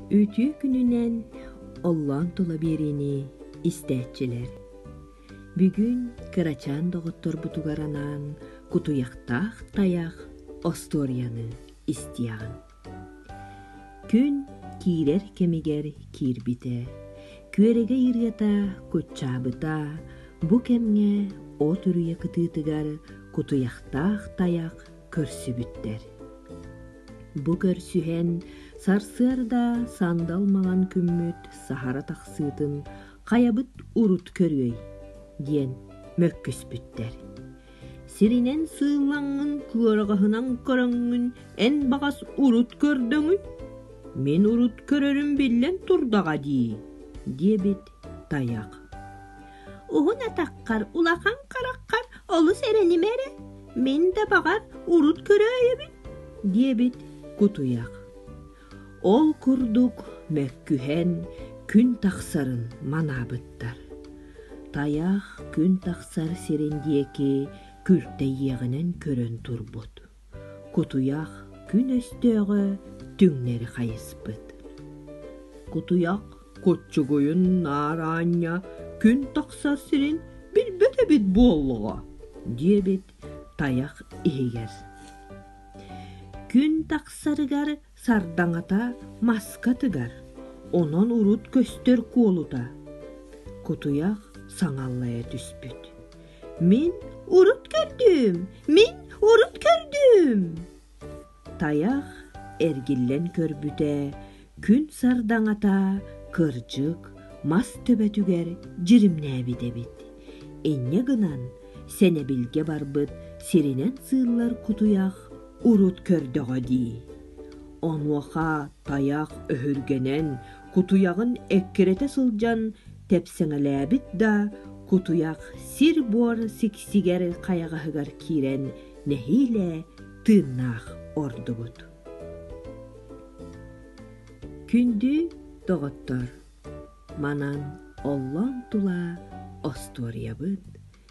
Үтүө күнүнэн оллоон тула биэриини истээччилэр. Бүгүн кырачаан доҕотторбутугар анаан кутуйахтаах тайах остуоруйаны истиэҕиҥ. Күн киирэр кэмигэр киирбитэ, күөрэгэй ырыата куччаабыта бу кэмҥэ от үрүйэ кытыытыгар кутуйахтаах тайах көрсүбүттэр. Бу көрсүһэн сарсыарда сандал маҥан күммүт саһара тахсыытын хайабыт урут көрүөй диэн мөккүспүттэр. Сиринэн сыыллаҥҥын кыараҕаһынан көрөҥҥүн эн баҕас урут көрдөҥүй? Мин урут көрөрүм биллэн турдаҕа дии, диэбит Тайах Уһун атаххар, улахан хараххар олус эрэнимэ эрэ, мин да баҕар урут көрөөйүбүн, диэбит кутуйах. Ол курдук мөккүһэн күн тахсарын манаабыттар. Тайах күн тахсар сирин диэки күлтэйиэҕинэн көрөн турбут. Кутуйах күн өстөөҕө түҥнэри хайыспыт. Кутуйах куччугуйун наар аанньа күн тахсар сирин билбэт эбит буоллаҕа, диэбит тайах иһигэр. Күн тахсарыгар Сардаҥата маска тыгар, онон урут көстөр куолута. Кутуйах саҥаллайа түспүт. Мин урут көрдүм, мин урут көрдүм. Тайах эргиллэн көрбүтэ, күн сардаҥата кырдьык мас төбөтүгэр дьиримнээбит эбит. Инньэ гынан сэнэбилгэ барбыт сиринэн сыыллар кутуйах урут көрдөҕө дии онуоха тайах өһүргэнэн кутуйаҕын эккирэтэ сылдьан тэпсэҥэлээбит да кутуйах сир-буор сиксигэр хайаҕаһыгар киирэн нэһиилэ тыыннаах ордубут күндү доҕоттор манан оллоон тула остуоруйабыт